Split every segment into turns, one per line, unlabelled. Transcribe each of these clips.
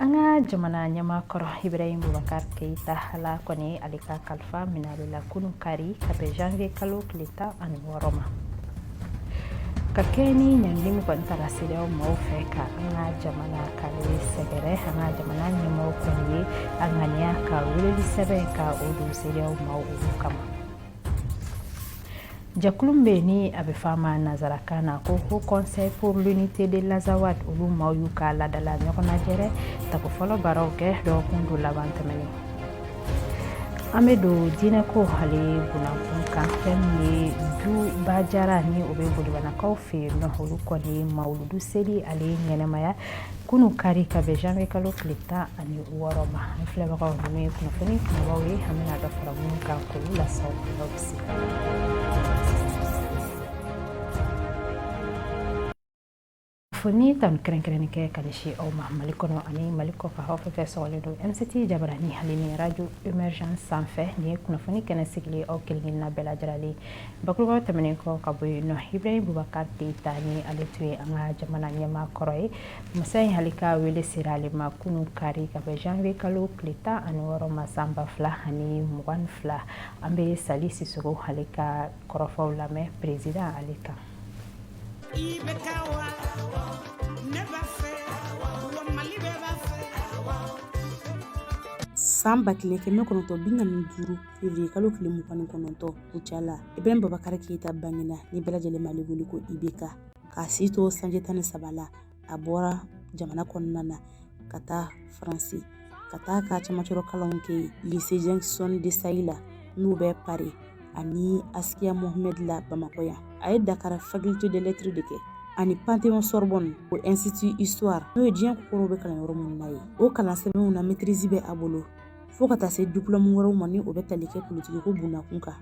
an ka jamana ɲɛma kɔrɔ ibrahim bubakar keita ala kɔni ye ale ka kalifa minɛ ale la kunu kari ka bɛn janvier kalo tile tan ani wɔɔrɔ ma ka kɛɲɛ ni ɲangili min kɔni tara cedeao maaw fɛ ka an ka jamana k'ale sɛgɛrɛ an ka jamana ɲɛmaaw kɔni ye a ŋaniya ka weleli sɛbɛn ka o don cedeao maaw olu kama Jɛkulu min bɛ yen ni a bɛ fɔ a ma nansarakan na ko haut conseil pour l'unité de l'azawad olu maaw y'u ka laadala ɲɔgɔnlajɛrɛ tako fɔlɔ baaraw kɛ dɔgɔkun don laban tɛmɛnen an bɛ don diinɛko ale bundakun kan fɛn ye duba jara ni o bɛ bolibanakaw fɛ yen nɔ olu kɔni mawuludu seli ale ɲɛnamaya kunun kari ka bɛn janvier kalo tile tan ani wɔɔrɔ ma an filɛbagaw ninnu ye kunnafoni kunbabaw ye an bɛna dɔ fara minnu kan k'olu lase an bɛ sin ka foli ni tanu kɛrɛnkɛrɛnnen kɛ ka ɲɛsin aw ma mali kɔnɔ ani mali kɔkan aw fɛn fɛn sɔgɔlen don mct jabarani ale ni radio emergence sanfɛ nin ye kunnafoni kɛnɛ sigilen aw kelen kelenna bɛɛ lajɛrɛlen Bakuruba tɛmɛnen kɔ ka bɔ yen nɔ ibrahim bubakar keita ni ale tun ye an ka jamana ɲɛmaa kɔrɔ ye masa in ale ka wele sera ale ma kunun kari ka bɛn janvier kalo tile tan ani wɔɔrɔ ma san ba fila ani mugan fila an bɛ sali sisoko ale ka kɔrɔfɔw lamɛn peresidan ale kan
san ba kelen kɛmɛ kɔnɔntɔn bi naani ni duuru fevrier kalo tile mugan ni kɔnɔntɔn kucala ibrahim bubakar keita bangena ni bɛɛ lajɛlen b'ale wele ko ibk k'a si to sanji tan ni saba la a bɔra jamana kɔnɔna na ka taa faransi ka taa ka cɛmancɛrɔ kalanw kɛ lycée janson de sailly la n'o bɛ pari ani asikiya mohamed la bamakɔ yan a ye dakara faculté de lettre de kɛ ani pantheon sorbonne o institut histoire n'o ye diɲɛ kokɔrɔw bɛ kalan yɔrɔ minnu na ye o kalan sɛbɛnw na maîtrise bɛ a bolo fɔɔ ka taa se diplɔmu wɛrɛw ma ni o bɛ tali kɛ politikiko bundakun kan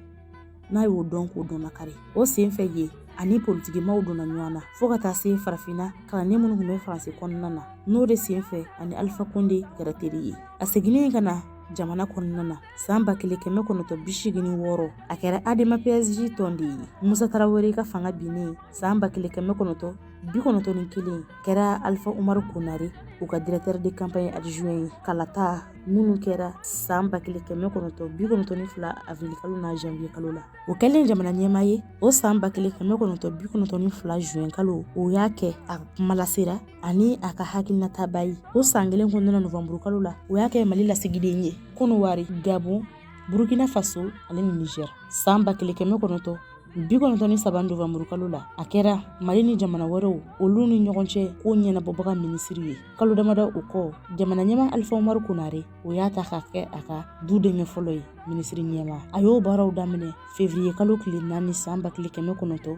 n'a y'o dɔn k'o dɔnnakari o sen fɛ ye ani politikimaaw donna ɲɔgɔn na fɔɔ ka taa se farafinna kalanden minnu tun bɛ faransi kɔnɔna na n'o de sen fɛ a ni alifa konde kɛra teri ye a seginnen ka na jamana kɔnɔna na san ba kelen kɛmɛ kɔnɔtɔ bi seegin ni wɔɔrɔ a kɛra adema pasj tɔnden ye musa tarawele ka fanga binnen san ba kelen kɛmɛ kɔnɔtɔ bi kɔnɔntɔn ni kelen a kɛra alifa umaru konare o ka directeur de campagne adjoint ye kalata minnu kɛra san ba kelen kɛmɛ kɔnɔntɔn bi kɔnɔntɔn ni fila avril kalo na janviye kalo la o kɛlen jamana ɲɛma ye o san ba kelen kɛmɛ kɔnɔntɔn bi kɔnɔntɔn ni fila zuɛn kalo o y'a kɛ a kumalasela ani a ka hakilinatabaa ye o san kelen kɔnɔna novanburu kalo la o y'a kɛ mali lasigiden ye kɔnɔwari gabon burukina faso ale ni nizɛr san ba kelen kɛmɛ kɔnɔntɔn bi kɔnɔntɔn ni saba novanburukalo la a kɛra mali ni jamana wɛrɛw olu ni ɲɔgɔn cɛ ko ɲɛnabɔbaga minisiri ye kalo damada o kɔ jamana ɲɛma alifa umaru konare o y'a ta ka kɛ a ka du denkɛ fɔlɔ ye minisiri ɲɛma a y'o baaraw daminɛ fevriye kalo tile naani san ba kelen kɛmɛ kɔnɔntɔ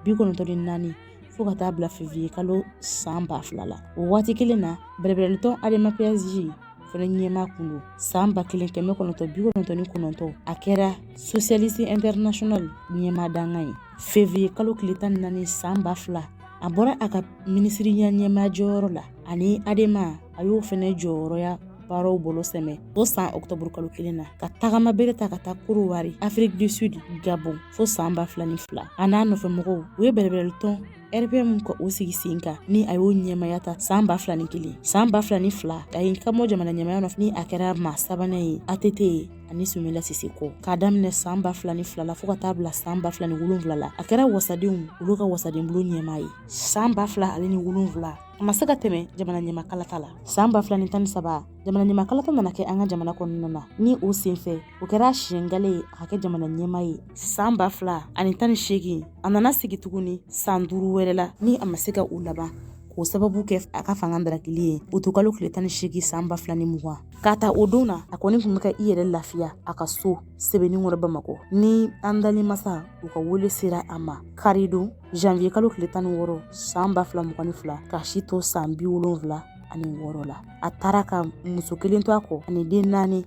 bi kɔnɔntɔ ni naani fo ka taa bila fevriye kalo san ba fila la o waati kelen na bɛrɛbɛrɛlitɔn ADEMA PASJ fana ɲɛma kun don san ba kelen kɛmɛ kɔnɔntɔn bi kɔnɔntɔn ni kɔnɔntɔn a kɛra socialiste international ɲɛma dankan ye fevriye kalo tile tan ni naani san ba fila a bɔra a ka minisiriya ɲɛma jɔyɔrɔ la ani adema a y'o fana jɔyɔrɔya baaraw bolo sɛmɛ fo san ɔktɔburu kalo kelen na ka tagama bere ta ka taa korowari afrique du sud gabon fo san ba fila ni fila a n'a nɔfɛmɔgɔw u ye bɛrɛbɛrɛlitɔn RPM ka o sigi sen kan ni a y'o ɲɛmaya ta san ba fila ni kelen san ba fila ni fila a y'i kanbɔ jamana ɲɛmaya nɔfɛ ni a kɛra maa sabanan ye ATT ye ani Sumayila Sise kɔ k'a daminɛ san ba fila ni fila la fo ka taa bila san ba fila ni wolonwula la a kɛra wasadenw olu ka wasadenbulon ɲɛmaa ye san ba fila ale ni wolonwula a ma se ka tɛmɛ jamana ɲɛmakalata la san ba fila ni tan ni saba jamana ɲɛmakalata nana kɛ an ka jamana kɔnɔna na ni o senfɛ o kɛra siɲɛ gale ye a ka kɛ jamana ɲɛma ye san ba fila ani tan ni seegin a nana sigi tuguni san duuru wɛrɛ la ni a ma se ka o laban k'o sababu kɛ a ka fanga darakili ye uti kalo tile tan ni seegin san ba fila ni mugan k'a ta o don na a kɔni tun bɛ ka i yɛrɛ lafiya a ka so sebeninkɔrɔ bamakɔ ni an dali masa u ka wele sera a ma karidon janviye kalo tile tan ni wɔɔrɔ san ba fila mugan ni fila k'a si to san bi wolonfila ani wɔɔrɔ la a taara ka muso kelen to a kɔ ani den naani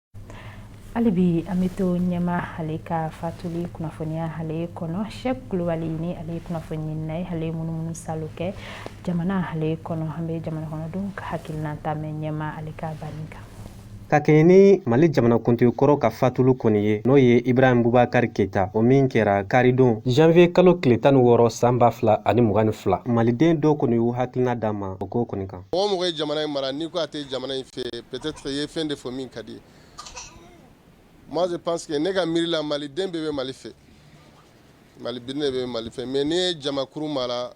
hali bi an bɛ to ɲɛma ale ka fatuli kunnafoniya ale kɔnɔ sɛki kulubali ni ale kunnafonina ye ale munumunusaali kɛ jamana ale kɔnɔ an bɛ jamana kɔnɔdenw ka hakilinan ta ɲɛma ale ka banni kan ka kɛɲɛ
ni mali jamanakuntigi kɔrɔ ka fatuli kɔni ye n'o ye ibrahim bubakari keyita o min kɛra karidon janvier kalo tile tan ni wɔɔrɔ san ba fila ani mugan ni fila maliden dɔw kɔni y'u hakilina d'an ma o ko kɔni kan Mɔgɔ o mɔgɔ ye jamana in
mara n'i ko a tɛ jamana in fɛ peut-être i ye fɛn de fɔ min ka di i ye moi je pense ne ka miiri la maliden bɛɛ bɛ mali fɛ maliden bɛɛ bɛ mali fɛ mais n'i ye jamakuru mara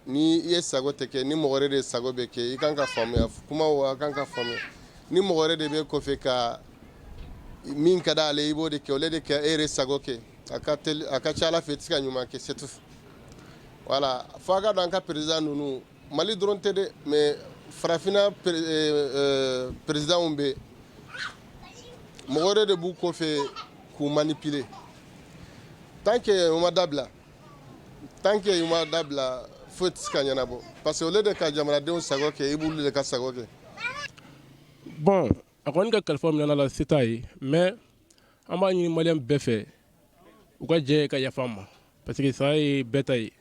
ni i yɛrɛ sago tɛ kɛ ni mɔgɔ wɛrɛ de sago bɛ kɛ i kan ka faamuya kuma a kan ka faamuya ni mɔgɔ wɛrɛ de bɛ kɔfɛ ka min ka di ale i b'o de kɛ ale de kɛ e yɛrɛ sago kɛ a ka a ka ca ala fɛ i tɛ se ka ɲuman kɛ c'est tout voilà fo ka an ka perez ninnu Mali dɔrɔn tɛ dɛ mais farafinna présidentw bɛɛ mɔgɔ wɛrɛ de b'u kɔ fɛ k'u manipuler tant que u ma dabila tant que u ma dabila foyi tɛ se ka ɲɛnabɔ parce que au lieu de ka jamanadenw sago kɛ i b'olu de ka sago
kɛ bon a kɔni ka kalifa minɛn'a la ça y est mais an b'a ɲini maliyɛn bɛɛ fɛ u ka jɛ ka yafa a ma parce que saya ye bɛɛ ta ye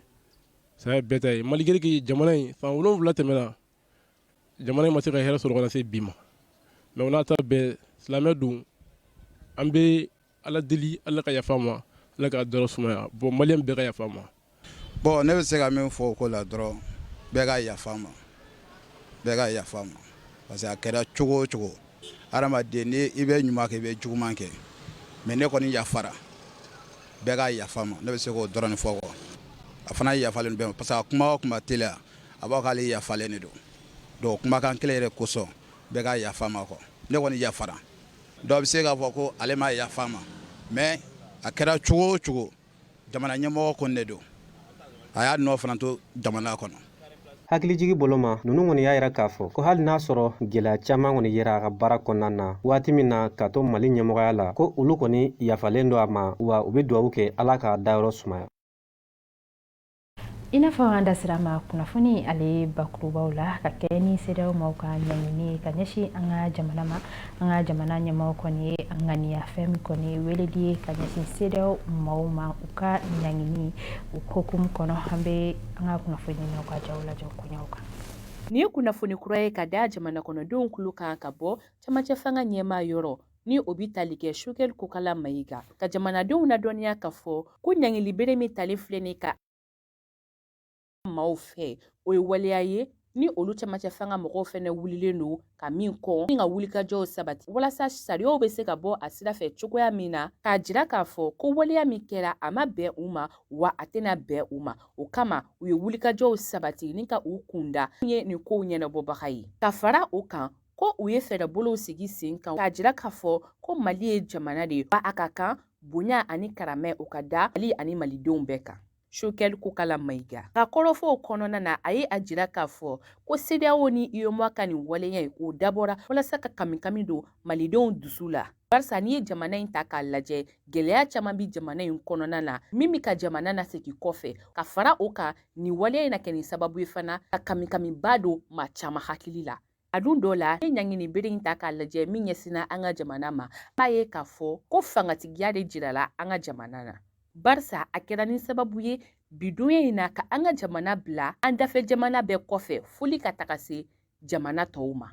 saya bɛɛ ta ye malgré que jamana in san 7 tɛmɛna jamana in ma se ka hɛrɛ sɔrɔ ka na se bi ma mais o n'a ta bɛɛ silamɛ don an bɛ ala deli ala ka yafa a ma ala k'a dayɔrɔ sumaya bon maliyɛn bɛɛ ka yafa a ma bon ne
bɛ se ka min fɔ o ko la dɔrɔn bɛɛ ka yafa a ma bɛɛ ka yafa a ma parce que a kɛra cogo o cogo Adamaden ni i bɛ ɲuman kɛ i bɛ juguman kɛ mais ne kɔni yafara bɛɛ ka yafa a ma ne bɛ se k'o dɔrɔn fɔ quoi a fana yafalen bɛɛ ma parce que a kuma o kuma télé la a b'a fɔ k'ale yafalen de don o kumakan kelen yɛrɛ kosɔn bɛɛ ka yafa a ma quoi ne kɔni yafara dɔw bɛ se k'a fɔ ko ale ma yafa a ma mais a kɛra cogo o cogo Jamana ɲɛmɔgɔ kɔni de don a y'a nɔ fana to jamana kɔnɔ hakilijigi
boloma ninnu kɔni y'a yira k'a fɔ ko hali n'a sɔrɔ gɛlɛya caman kɔni yera a ka baara kɔnɔna na waati min na k'a to mali ɲɛmɔgɔya la ko olu kɔni yafalen don a ma wa u bɛ dugawu kɛ ala k'a dayɔrɔ sumaya
I n'a fɔ an da sera a ma kunnafoni ale bakurubaw la ka kɛɲɛ ni CEDEAO maaw ka ɲangili ye ka ɲɛsin an ka jamana ma an ka jamana ɲɛmaa kɔni ye a ŋaniya fɛn min kɔni ye wele de ye ka ɲɛsin CEDEAO maaw ma u ka ɲangili hukumu kɔnɔ an bɛ an ka kunnafoninaw ka jaw lajɛ koɲɛw kan nin ye kunnafoni
kura ye ka da jamana kɔnɔdenw tulo kan ka bɔ camancɛ fanga ɲɛmaa yɔrɔ ni o bɛ tali kɛ Choguel kokala mayiga ka jamanadenw ladɔnniya k'a fɔ ko ɲangili bere min talen filɛ nin ka maaw fɛ o ye waleya ye ni olu cɛmancɛ fanga mɔgɔw fɛnɛ wulilen don ka min kɔn ni ka wulikajɔw sabati walasa sariyaw bɛ se ka bɔ a sira fɛ cogoya min na k'a jira k'a fɔ ko waleya min kɛra a ma bɛn u ma wa a tɛna bɛn u ma o kama u ye wulikajɔw sabati ni ka u kunda ye nin kow ɲɛnabɔbaga ye ka fara o kan ko u ye fɛɛrɛbolow sigi sen kan k'a jira k'a fɔ ko mali ye jamana de ye wa a ka kan bonya ani karamɛ o ka da mali ani malidenw bɛɛ kan Choguel Kokala Mayiga ka kɔrɔfɔw kɔnɔna na a ye a jira k'a fɔ ko CEDEAO ni UEMOA ka nin waleya ye o dabɔra walasa ka kamikami don malidenw dusu la barisa n'i ye jamana in ta k'a lajɛ gɛlɛya caman bi jamana in kɔnɔna na min bi ka jamana nasegi kɔfɛ ka fara o kan nin waleya in na kɛ nin sababu ye fana ka kamikamiba don maa caman hakili la A dun dɔw la ne ɲangini bere in ta k'a lajɛ min ɲɛsinna an ka jamana ma i b'a ye k'a fɔ ko fangatigiya de jirala an ka jamana na barisa a kɛra ni sababu ye bidonya in na ka an ka jamana bila an dafɛ jamana bɛɛ kɔfɛ foli ka taga se jamana tɔw ma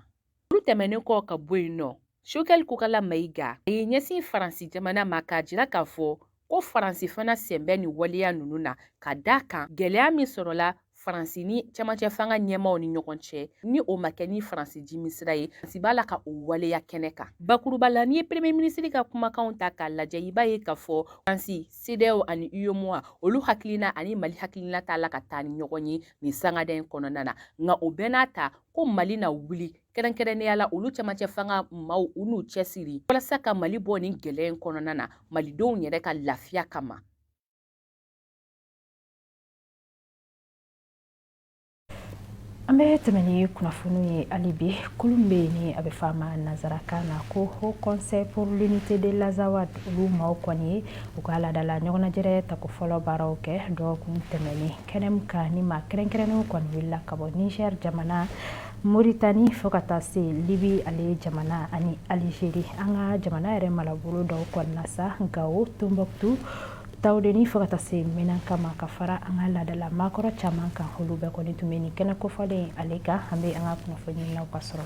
olu tɛmɛnen kɔ ka bɔ yen nɔ choguel kokala mayiga a y'i ɲɛsin faransi jamana ma k'a jira k'a fɔ ko faransi fana sen bɛ nin waleya ninnu na ka d'a kan gɛlɛya min sɔrɔla faransi ni cɛmancɛ fanga ɲɛmaaw ni ɲɔgɔn cɛ ni o ma kɛ ni faransi jimi sira ye faransi b'a la ka o waleya kɛnɛ kan bakuruba la n'i ye premier minisiri ka kumakanw ta k'a lajɛ i b'a ye k'a fɔ faransi cedeao ani uemoa olu hakilina ani mali hakilina t'a la ka taa ni ɲɔgɔn ye nin sangada in kɔnɔna na nka o bɛɛ n'a ta ko mali na wuli kɛrɛnkɛrɛnnenya la olu cɛmancɛ fanga maaw u n'u cɛsiri walasa ka mali bɔ nin gɛlɛya in kɔnɔna na malidenw yɛrɛ ka lafiya
kama an bɛ tɛmɛ ni kunnafoniw ye hali bi kulu min bɛ yen ni a bɛ fɔ a ma nanzarakan na ko haut conseil pour l'unité de l'azawad olu maaw kɔni ye u ka laadala ɲɔgɔnnajɛrɛ tako fɔlɔ baaraw kɛ dɔgɔkun tɛmɛnen kɛnɛ min kan ni maa kɛrɛnkɛrɛnnenw kɔni wulila ka bɔ niger jamana moritani fo ka taa se libi ale jamana ani alizeri an ka jamana yɛrɛ marabolo dɔw kɔnɔna sa gawo tɔnbɔkutu tawudeni fo ka taa se menaka ma ka fara an ka laadala maakɔrɔ caman kan olu bɛɛ kɔni tun bɛ ni kɛnɛ kofɔlen ale kan an bɛ an ka kunnafoniinaaw ka sɔrɔ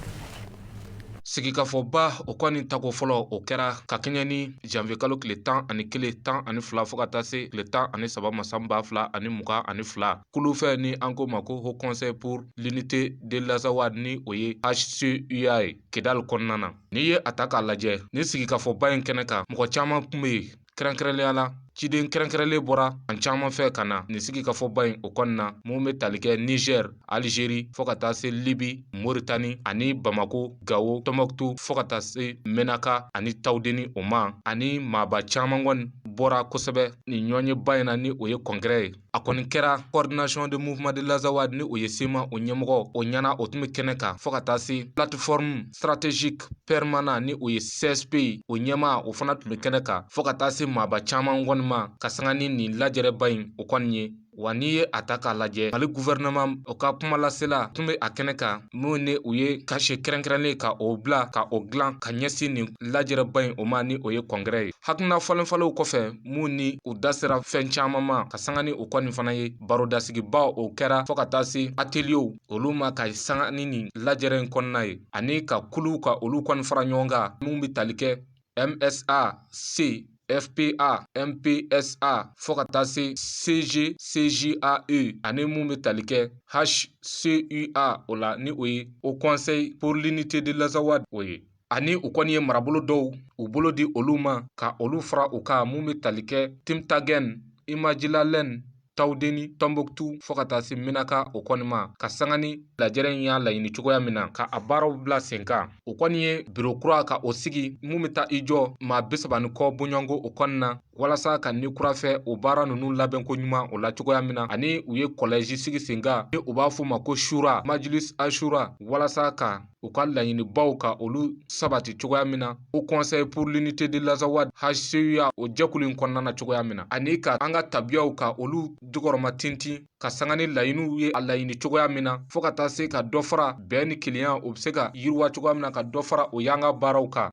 sigikafɔba o kɔni tako fɔlɔ o kɛra ka kɛɲɛ ni janvier kalo tile tan ani kelen tan ani fila fo ka taa se tile tan ani saba ma san ba fila ani mugan ani fila kulu fɛ ni an ko ma ko haut conseil pour l'unité de l'Azawad ni o ye HCUA ye Kidali kɔnɔna na n'i ye a ta k'a lajɛ ni sigikafɔba in kɛnɛ kan mɔgɔ caman tun bɛ yen kɛrɛnkɛrɛnnenya la ciden kɛrɛnkɛrɛnlen bɔra fan caman fɛ ka na nin sigikafɔba in o kɔnɔna na min bɛ tali kɛ Niger Algerie fo ka taa se Libye Mauritanie ani Bamako Gawo Tɔnbɔkutu fo ka taa se Menaka ani Tawudeni o ma ani maaba caman kɔni bɔra kosɛbɛ nin ɲɔgɔnyeba in na ni o ye congrès ye a kɔni kɛra coordination de mouvement de l'azawad ni o ye cma o ɲɛmɔgɔ o ɲɛmaa o tun bɛ kɛnɛ kan fɔɔ ka taa se plateforme stratégique permanent ni o ye csp ye o ɲɛmaa o fana tun bɛ kɛnɛ kan fɔɔ ka taa se maaba caman kɔni ma ka sanga ni nin lajɛrɛba in o kɔni ye wa n'i ye a ta k'a lajɛ mali guvɛrɛnɛman o ka kumalasela tun bɛ a kɛnɛ kan min ni u ye cachet kɛrɛnkɛrɛnnen ka o bila ka o dilan ka ɲɛsin nin lajɛrɛba in o ma ni o ye congrès ye hakilina falenfalenw kɔfɛ min ni u da sera fɛn caman ma ka sanga ni o kɔni fana ye barodasigiba o kɛra fɔɔ ka taa se ateliyew olu ma ka sanga ni nin lajɛrɛ in kɔnɔna ye ani ka kuluw ka olu kɔni fara ɲɔgɔn kan min bɛ tali kɛ msa c fpa mpsa fɔɔ ka taa se cg cjae ani min bɛ tali kɛ hcua o la ni o ye haut conseil pour l'unité de l'Azawad o ye ani u kɔni ye marabolo dɔw u bolo di olu ma ka olu fara u kan mun bɛ tali kɛ timtagɛn imajilalen tawudeni tɔnbɔkutu fɔɔ ka taa se minaka o kɔni ma ka sanga ni lajɛrɛ in y'a laɲini cogoya min na ka a baaraw bila sen kan o kɔni ye biro kura ka o sigi mun bɛ taa i jɔ maa bisaba ni kɔ bɔɲɔnko o kɔni na walasa ka ni kura fiyɛ o baara ninnu labɛnko ɲuman o la cogoya min na ani u ye kɔlɛji sigi sen kan ni u b'a fɔ ma ko shura majilis ashura walasa ka u ka laɲinibaw ka olu sabati cogoya min na haut conseil pour l'unité de l'Azawad hcua o jɛkulu in kɔnɔna na cogoya min na ani ka an ka tabiyaw ka olu jukɔrɔma tintin ka sanga ni laɲiniw ye a laɲini cogoya min na fɔɔ ka taa se ka dɔ fara bɛn ni kelenya o bɛ se ka yiriwa cogoya min na ka dɔ fara o y'an ka baaraw kan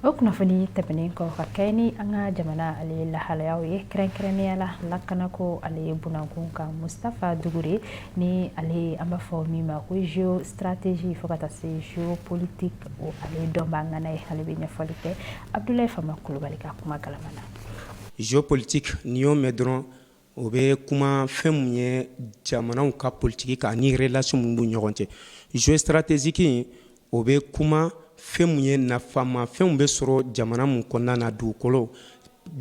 o kunnafoni tɛmɛnen kɔ ka kɛ ni an ka jamana ale lahalayaw ye kɛrɛnkɛrɛnnenya la lakanako ale bunankun kan mustafa dugure ni ale an b'a fɔ min ma ko géostratégie fo ka taa se géopolitique o ale dɔnbaa ŋana ye ale bɛ ɲɛfɔli kɛ abdulayi fama kulubali ka kuma galama na géopolitique
n'i y'o mɛn dɔrɔn o bɛ kuma fɛn min ye jamanaw ka politiki kan ani relation min b'u ɲɔgɔn cɛ géostratégique in o bɛ kuma fɛn min ye nafama fɛnw bɛ sɔrɔ jamana min kɔnɔna na dugukolo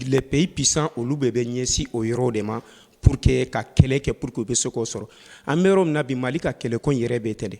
les pays puissants olu bɛɛ bɛ ɲɛsin o yɔrɔ de ma pour que ka kɛlɛ kɛ pour que u bɛ se k'o sɔrɔ an bɛ yɔrɔ min na bi mali ka kɛlɛko yɛrɛ bɛ ten de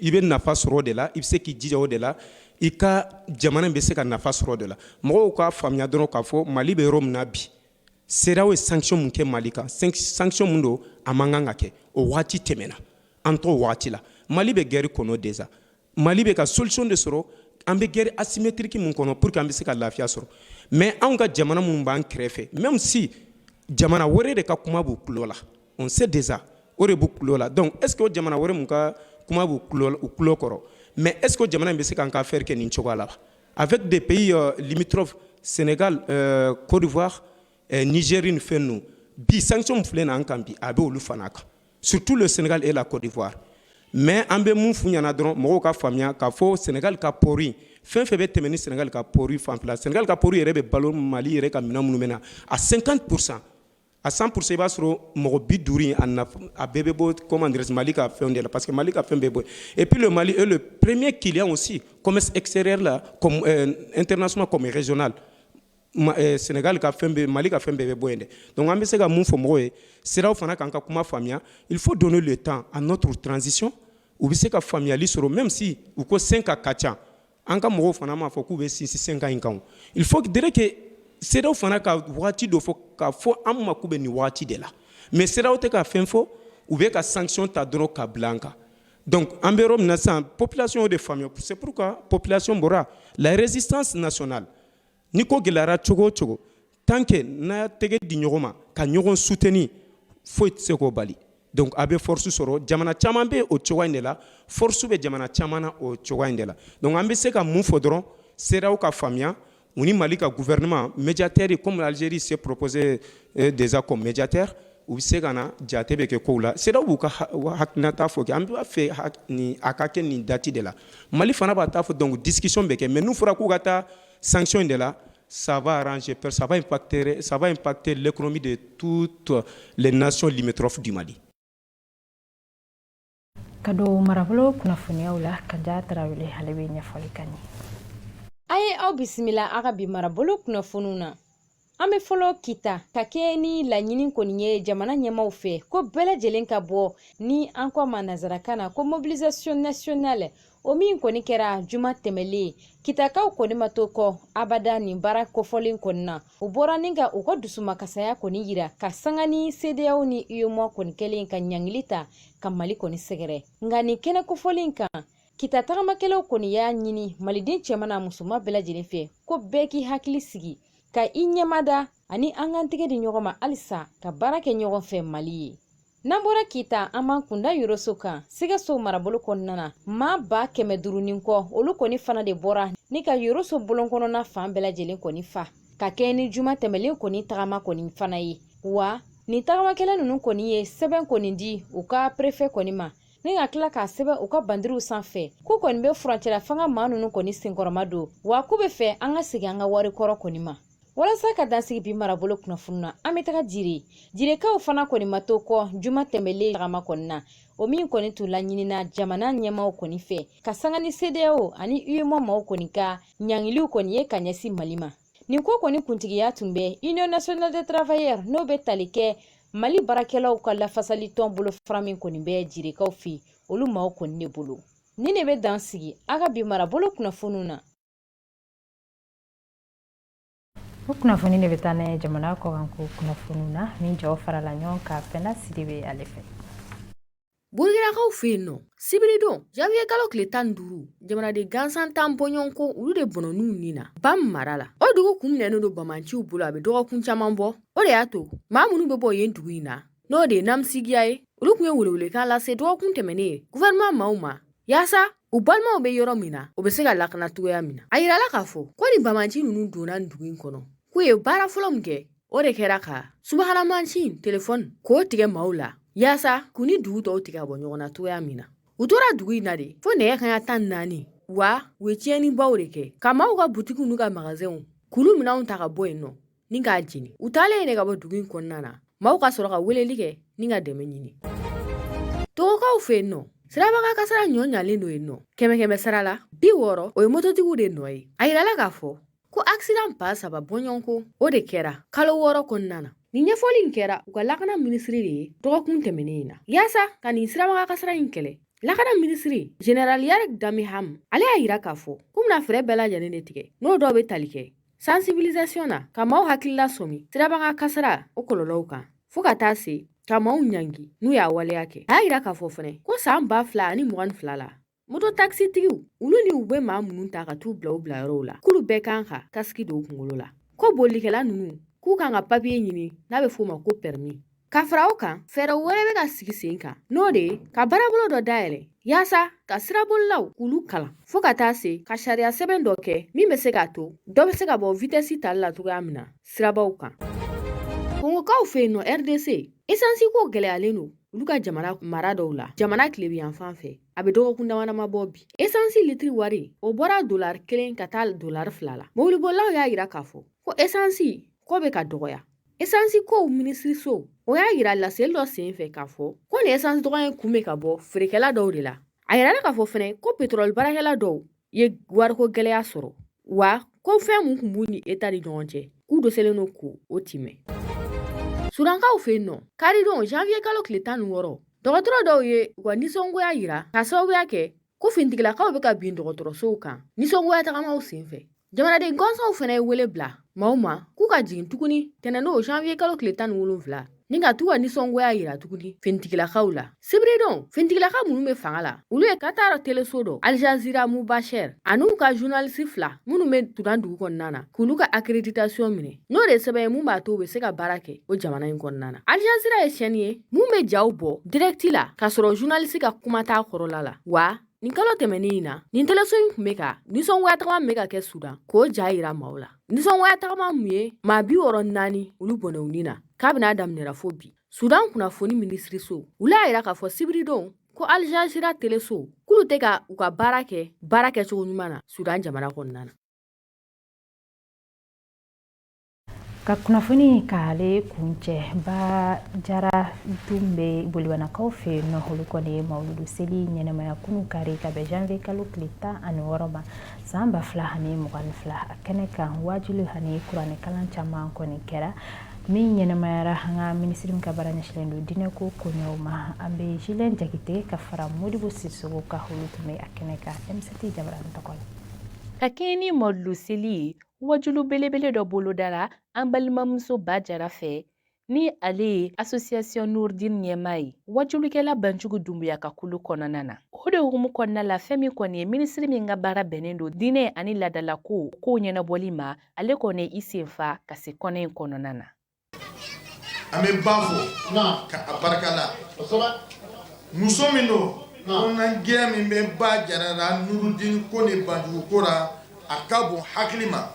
i bɛ nafa sɔrɔ o de la i bɛ se k'i jija o de la i ka jamana bɛ se ka nafa sɔrɔ o de la mɔgɔw k'a faamuya dɔrɔn k'a fɔ mali bɛ yɔrɔ min na bi cedeao ye sanction min kɛ mali kan sanction min don a man kan ka kɛ o waati tɛmɛna an t'o waati la mali bɛ guerre kɔnɔ déjà mali bɛ ka solution de sɔrɔ an bɛ guerre asymétrique min kɔnɔ pour que an bɛ se ka lafiya sɔrɔ mais anw ka jamana minnu b'an kɛrɛfɛ même si jamana wɛrɛ de ka kuma b'u tulo la on sait déjà o de b'u tulo la donc est ce que o jamana wɛrɛ mun ka kuma b'u tulo kɔrɔ mais est ce que o jamana in bɛ se k'an ka affaire kɛ nin cogoya la avec des pays euh, limitrophes Sénégal euh, Côte d'Ivoire euh, Niger ni fɛn ninnu bi sanction min filɛ nin an kan bi a bɛ olu fana kan surtout le Sénégal et la Côte d'Ivoire mais an bɛ mun f'u ɲɛna dɔrɔn mɔgɔw ka faamuya k'a fɔ Sénégal ka port in fɛn fɛn bɛ tɛmɛ ni Sénégal ka port fanfɛla Sénégal ka port yɛrɛ bɛ balo Mali yɛrɛ ka minɛn minnu bɛ na à 50 pourcent A san p i b'a sɔrɔ mɔgɔ bi duuru a bɛɛ bɛ bɔ kɔman dɛsɛs mali ka fɛn de la parce que mali ka fɛn bɛ bɔ e ppl mali e premeye kelen o si esɛ la n tɛna suma kɔmikɛzna sɛnɛkali ka fɛn bɛ mali ka fɛn bɛɛ bɛ bɔ yen dɛ dɔnku an bɛ se ka mun fɔ mɔgɔw ye siraw fana k'an ka kuma faamuyaya il fo don de tan a nɔ to tranzsisi u bɛ se ka faamuyayali sɔrɔ mɛ misi u ko sen ka ka ca An ka mɔgɔw fana m'a fɔ k'u bɛ sinsin cinq ans in kan il faut dire que CEDEAO fana ka waati dɔ fɔ k'a fɔ an ma k'u bɛ nin waati de la mais CEDEAO tɛ ka fɛn fɔ u bɛ ka sanction ta dɔrɔn ka bila an kan donc an bɛ yɔrɔ min na sisan population y'o de faamuya c'est pourquoi population bɔra la résistance nationale Ni ko gɛlɛyara cogo o cogo tant que n'a y'a tɛgɛ di ɲɔgɔn ma ka ɲɔgɔn soutenir foyi tɛ se k'o bali donc a bɛ force sɔrɔ jamana caman bɛ o cogoya in de la force bɛ jamana caman na o cogoya in de la donc an bɛ se ka mun fɔ dɔrɔn CEDEAO ka faamuya u ni Mali ka gouvernement médiateur comme Algérie s'est proposé euh, déjà comme médiateur u bɛ se ka na jate bɛ kɛ kow la CEDEAO b'u ka hakilinata fɔ kɛ an b'a fɛ a ka kɛ nin date de la Mali fana b'a ta fɔ donc discussion bɛ kɛ mais n'u fɔra k'u ka taa sanction in de la ça va arranger parce que ça va impacter ça va impacter l'économie de toutes les nations limitrophes du Mali
ka don marabolo kunnafoniyaw la Kaja Tarawele ale bɛ ɲɛfɔli k'an ye a ye
aw bisimila a ka bi marabolo kunnafoniw na an bɛ fɔlɔ kita ka kɛɲɛ ni laɲini kɔni ye jamana ɲɛmaw fɛ ko bɛɛ lajɛlen ka bɔ ni an ko ma nazarakan na ko mobilisation nationale o min kɔni kɛra juma tɛmɛlen kitakaw kɔni ma to kɔ abada nin baara kofɔlen kɔni na u bɔra ni ka u ka dusumakasaya kɔni yira ka sanga ni CEDEAO ni UEMOA kɔni kɛlen ka ɲangili ta ka mali kɔni sɛgɛrɛ nka nin kɛnɛ kofɔlen kan kita tagamakɛlaw kɔni y'a ɲini maliden cɛman n'a musoman bɛɛ lajɛlen fɛ ko bɛɛ k'i hakili sigi ka i ɲɛmada ani an k'an tɛgɛ di ɲɔgɔn ma halisa ka baara kɛ ɲɔgɔn fɛ mali ye n'an bɔra kita an b'an kunda yoroso kan sikaso marabolo kɔnɔna na maa ba kɛmɛ duuru ni kɔ olu kɔni fana de bɔra ni ka yoroso bolon kɔnɔna fan bɛɛ lajɛlen kɔni fa ka kɛɲɛ ni juma tɛmɛlen kɔni tagama kɔni fana ye wa nin tagamakɛla ninnu kɔni ye sɛbɛn kɔni di u ka perefɛ kɔni ma ni ka tila k'a sɛbɛn u ka bandiriw sanfɛ k'u kɔni bɛ furancɛla fanga maa ninnu kɔni senkɔrɔmadon wa k'u bɛ fɛ an ka segin an ka wari kɔrɔ kɔni ma walasa ka dansigi bi marabolo kunnafoni na an bɛ taga jire jirekaw fana kɔni ma to kɔ juma tɛmɛlen tagama kɔni na o min kɔni tun laɲinina jamana ɲɛmaw kɔni fɛ ka sanga ni CEDEAO ani UEMOA maaw kɔni ka ɲangiliw kɔni ye ka ɲɛsin mali ma nin ko kɔni kuntigiya tun bɛ union nationale des travailleurs n'o bɛ tali kɛ mali baarakɛlaw ka lafasali tɔn bolo fara min kɔni bɛ jirekaw fɛ olu maaw kɔni de bolo nin de bɛ dan sigi a ka bi marabolo kunnafoniw
na o kunnafoni de bɛ taa n'a ye jamana kɔkanko kunnafoniw na min jaw farala ɲɔgɔn kan fɛnda sidibe ale fɛ
Burukinakaw fɛ yen nɔ sibiridon janviye kalo tile tan ni duuru jamanaden gansan tan bɔɲɔgɔn ko olu de bɔnɔna u nin na bam mara la o dugu kun minɛnen don bamanciw bolo a bɛ dɔgɔkun caman bɔ o de y'a to maa minnu bɛ bɔ yen dugu in na n'o de ye namisigiya ye olu tun ye welewelekan lase dɔgɔkun tɛmɛnen in guvɛrɛnman maaw ma yaasa u balimaw bɛ yɔrɔ min na u bɛ se ka lakana cogoya min na a yirala k'a fɔ ko ni bamanci ninnu donna dugu in kɔnɔ k'u ye baara fɔlɔ min kɛ o de kɛra ka subahana mansin telefɔni k'o tigɛ maaw la yaasa k'u ni dugu tɔw tigɛ ka bɔ ɲɔgɔn na cogoya min na u tora dugu in na de fo nɛgɛ kanɲɛ tan naani wa u ye tiɲɛnibaw de kɛ ka maaw ka butikiw n'u ka magasɛnw k'olu minɛnw ta ka bɔ yen nɔ ni k'a jeni u taalen yen de ka bɔ dugu in kɔnɔna na maaw ka sɔrɔ ka weleli kɛ ni ka dɛmɛ ɲini togokaw fɛ yen nɔ sirabakan kasara juguyalen don yen nɔ kɛmɛ kɛmɛ sara la bi wɔɔrɔ o ye mototigiw de nɔ ye a yirala k'a fɔ ko accident ba saba bɔɲɔgɔnko o de kɛra kalo wɔɔrɔ kɔnɔna na Nin ɲɛfɔli in kɛra u ka lakana minisiri de ye dɔgɔkun tɛmɛnen in na yaasa ka nin sirabakan kasara in kɛlɛ lakana minisiri jenerali yark damehame ale y'a yira k'a fɔ k'u bɛna fɛɛrɛ bɛɛ lajɛlen de tigɛ n'o dɔw bɛ tali kɛ sansibilisasiyɔn na ka maaw hakilila sɔmi sirabakan kasara o kɔlɔlɔw kan fɔɔ ka taa se ka maaw ɲangi n'u y'a waleya kɛ a y'a yira k'a fɔ fɛnɛ ko san ba fila ani mugan ni fila la Moto takisitigiw olu ni u bɛ maa minnu ta ka t'u bila u bila yɔrɔw la k'olu bɛɛ kan ka kasiki don u kunkolo la ko bolikɛla ninnu k'u kan ka papiye ɲini n'a bɛ f'o ma ko pɛrɛmi ka fara o kan fɛɛrɛ wɛrɛ bɛ ka sigi sen kan n'o de ye ka baarabolo dɔ dayɛlɛ yaasa ka sirabolilaw k'olu kalan fɔɔ ka taa se ka sariya sɛbɛn dɔ kɛ min bɛ se k'a to dɔ bɛ se ka bɔ vitɛsi tali la cogoya min na sirabaw kan kongokaw fɛ yen nɔ rdc esansi ko gɛlɛyalen don olu ka jamana mara dɔw la jamana tilebin yan fan fɛ a bɛ dɔgɔkun damadama bɔ bi esansi litiri wari o bɔra dolari kelen ka taa dolari fila la mobilibolilaw y'a yira k'a fɔ ko esansi ko bɛ ka dɔgɔya esansi kow minisiriso o y'a yira laseli dɔ sen fɛ k'a fɔ ko nin esansi dɔgɔya in kun bɛ ka bɔ feerekɛla dɔw de la a yirala k'a fɔ fɛnɛ ko petrɔli baarakɛla dɔw ye wariko gɛlɛya sɔrɔ wa ko fɛn min tun b'u ni eta ni ɲɔgɔn cɛ k'u dɛsɛlen don k'o timɛ sudankaw fɛ yen nɔ karidon janviye kalo tile tan ni wɔɔrɔ dɔgɔtɔrɔ dɔw ye u ka nisɔngoya yira ka sababuya kɛ ko finitigilakaw bɛ ka bin dɔgɔtɔrɔsow kan nisɔngoya tagamaw sen fɛ jamanaden gɔnsɔnw fɛnɛ ye wele bila maaw ma k'u ka jigin tuguni tɛnɛndon janviye kalo tile tan ni wolonfila ni ka t'u ka nisɔngoya yira tuguni finitigilakaw la sibiridon finitigilaka minnu bɛ fanga la olu ye katara teleso dɔ aljazira mubashɛr an'u ka zunalisi fila minnu bɛ sudan dugu kɔnɔna na k'olu ka akreditasiɔn minɛ n'o de sɛbɛn ye mun b'a to u bɛ se ka baara kɛ o jamana in kɔnɔna na aljazira ye sɛni ye mun bɛ jaw bɔ dirɛkti la k'a sɔrɔ zunalisi ka kuma t'a kɔrɔla la wa Nin kalo tɛmɛnen in na nin teleso in tun bɛ ka nisɔngoya tagama min bɛ ka kɛ Sudan k'o ja yira maaw la nisɔngoya tagama min ye maa bi wɔɔrɔ ni naani olu bɔnɛ u ni na kabini a daminɛra fo bi Sudan kunnafoni minisiriso olu y'a yira k'a fɔ sibiridon ko Al Jazeera teleso k'olu tɛ ka u ka baara kɛ baara kɛcogo ɲuman na Sudan jamana kɔnɔna na
Ka kunnafoni k'ale kuncɛ ba jara tun bɛ bolibanakaw fɛ yen nɔ olu kɔni ye mawuludu seli ɲɛnamaya kunu kari ka bɛn janvier kalo tile tan ani wɔɔrɔ ma san ba fila ani mugan ni fila a kɛnɛ kan wajuli ani kuranɛkalan caman kɔni kɛra min ɲɛnamayara an ka minisiri min ka baara ɲɛsinnen don diinɛ ko koɲɛw ma an bɛ Julien Jakite ka fara Modibo Sisoko kan olu tun bɛ a kɛnɛ kan MCT jabara tɔgɔ la ka kɛɲɛ ni
mawuludu seli ye Wajuli belebele dɔ bolodara an balimamuso ba jara fɛ ni ale ye asosiyasiyɔn nurdin ɲɛmaa ye wajulikɛla banjugu dunbuya ka kulu kɔnɔna na o de hukumu kɔnɔna la fɛn min kɔni ye minisiri min ka baara bɛnnen don diinɛ ani ladalako kow ɲɛnabɔli ma ale kɔni i senfa ka se kɛnɛ in kɔnɔna na
An bɛ ba fo ka a barika la muso min don kɔnɔna gɛn min bɛ ba jara la nurudini ko ni banjugu ko la a ka bon hakili ma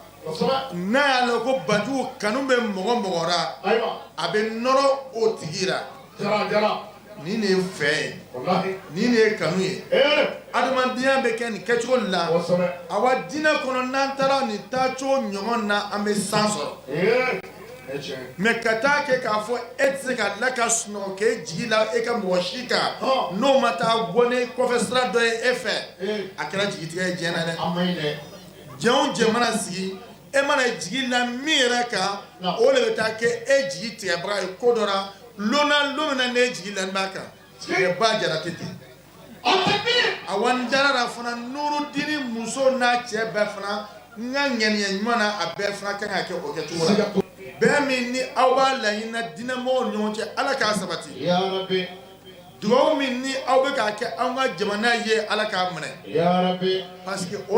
n'a y'a lɔn ko banjugu kanu bɛ mɔgɔ mɔgɔ ra a bɛ nɔrɔ o tigi Nin de ye fɛ ye nin de ye kanu ye adamadenya bɛ kɛ nin kɛcogo la awa diinɛ kɔnɔ n'an taara nin taacogo ɲɔgɔn na an bɛ san sɔrɔ mais ka taa kɛ k'a fɔ e tɛ se ka la ka sunɔgɔ k'e jigi la e ka mɔgɔ si kan n'o ma taa bɔ ne kɔfɛ sira dɔ ye e fɛ a kɛra jigitigɛ ye jɛn na dɛ jɛn o jɛn mana sigi e mana jigi la min yɛrɛ kan o de bɛ taa kɛ e jigi tigɛbaga ye ko dɔ la lon na lon min na n'e jigi lann'a kan ɛ ba jara tɛ ten awa n dara a la fana nurudini muso n'a cɛ bɛɛ fana n ka ŋaniya ɲuman na a bɛɛ fana kan ka kɛ o kɛ cogo la bɛn min ni aw b'a laɲini na diinɛ mɔgɔw ni ɲɔgɔn cɛ Ala k'a sabati yaa rabi dugawu min ni aw bɛ k'a kɛ anw ka jamana ye Ala k'a minɛ yaa rabi parce que o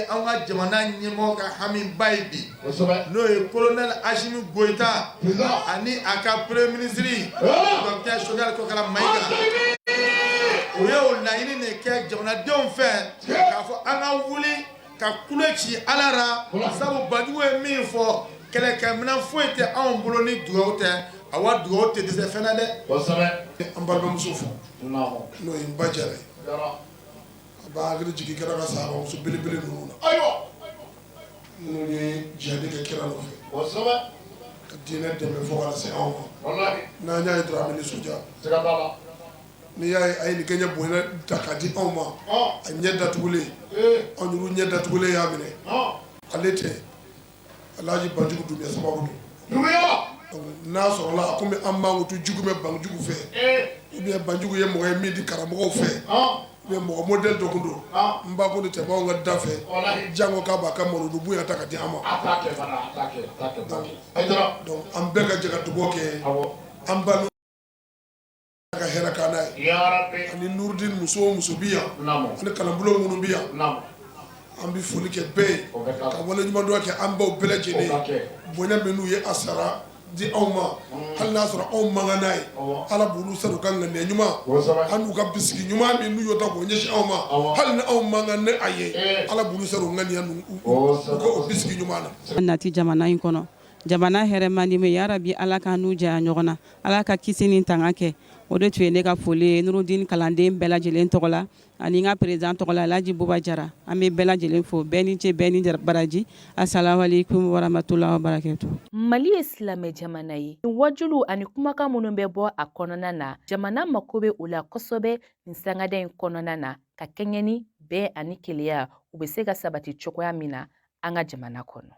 An ka jamana ɲɛmɔgɔ ka hamiba ye bi n'o ye colonel Assimi Goïta ani a ka premier ministre docteur Choguel Kokalla Maïga u y'o laɲini de kɛ jamanadenw fɛ k'a fɔ an ka wuli ka kule ci ala la sabu banjugu ye min fɔ kɛlɛkɛminɛn foyi tɛ anw bolo ni dugawu tɛ a wa dugawu tɛ dɛsɛ fɛn na dɛ an balimamuso fo n'o ye n ba jara ye a b'an hakili jigin kira ka sahabamuso belebele ninnu na ayiwa minnu ye jihadi kɛ kira nɔfɛ ka diinɛ dɛmɛ fo ka se anw ma n'an y'a ye dɔrɔn an bɛ nisɔndiya N'i y'a ye a ye nin kɛɲɛ bonya ta k'a di anw ma a ɲɛ datugulen anw yɛrɛ ɲɛ datugulen y'a minɛ ale tɛ alaaji banjugu dunbuya sababu don n'a sɔrɔla a kɔmi an mankutu jugu bɛ banjugu fɛ ou bien banjugu ye mɔgɔ ye min di karamɔgɔ fɛ mɛ mɔgɔ modɛli dɔ don n ba tun tɛ tɛmɛ anw ka da fɛ jango k'a b'a ka mawuludu bonya ta ka di an ma an bɛɛ ka jɛ ka dugawu kɛ an ka hɛrɛ kanu a ye ani nurudin muso o muso bi yan ani kalanbolo minnu bi yan an bɛ foli kɛ bɛɛ ye ka waleɲumandɔn kɛ an baw bɛɛ lajɛlen bonya min n'u ye a sara di anw ma mm. hali n'a sɔrɔ anw man kan n'a ye ala b'olu sara u ka ŋaniya ɲuman an'u ka bisigi ɲuman min n'u y'o ta k'o ɲɛsin anw ma hali ni anw man kan ni a ye eh. ala b'olu sara ŋaniya u ka o bisigi ɲuman na nati jamana in kɔnɔ
jamana hɛrɛ man di min ya rabi ala k'an n'u janya ɲɔgɔn na Ala ka kisi ni tanga kɛ o de tun ye ne ka foli ye nurudin kalanden bɛɛ lajɛlen tɔgɔ la ani n ka perezidan tɔgɔ la alhaji buba jara an bɛ bɛɛ lajɛlen fo bɛɛ ni ce bɛɛ ni baraji asalamu alayikumu warahamatulayi wabarakatu mali ye
silamɛ jamana ye waajuliw ani kumakan minnu bɛ bɔ a kɔnɔna na jamana mako bɛ o la kosɛbɛ nin sangada in kɔnɔna na ka kɛɲɛ ni bɛn ani kelenya u bɛ se ka sabati cogoya min na an ka jamana
kɔnɔ.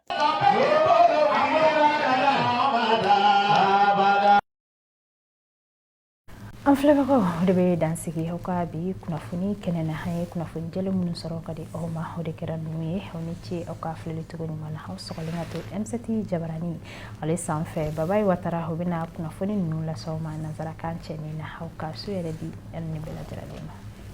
an filɛbagaw o de bɛ dansigi aw ka bi kunnafoni kɛnɛ na an ye kunnafoni jɛlen minnu sɔrɔ ka di aw ma o de kɛra ninnu ye aw ni ce aw ka filɛli cogo ɲuman na aw sɔgɔlen ka to m7 jabarani ale sanfɛ babayi watara o bɛna kunnafoni ninnu lase aw ma nansarakan kɛnɛ na ala ka su hɛrɛ di an bɛɛ lajɛlen ma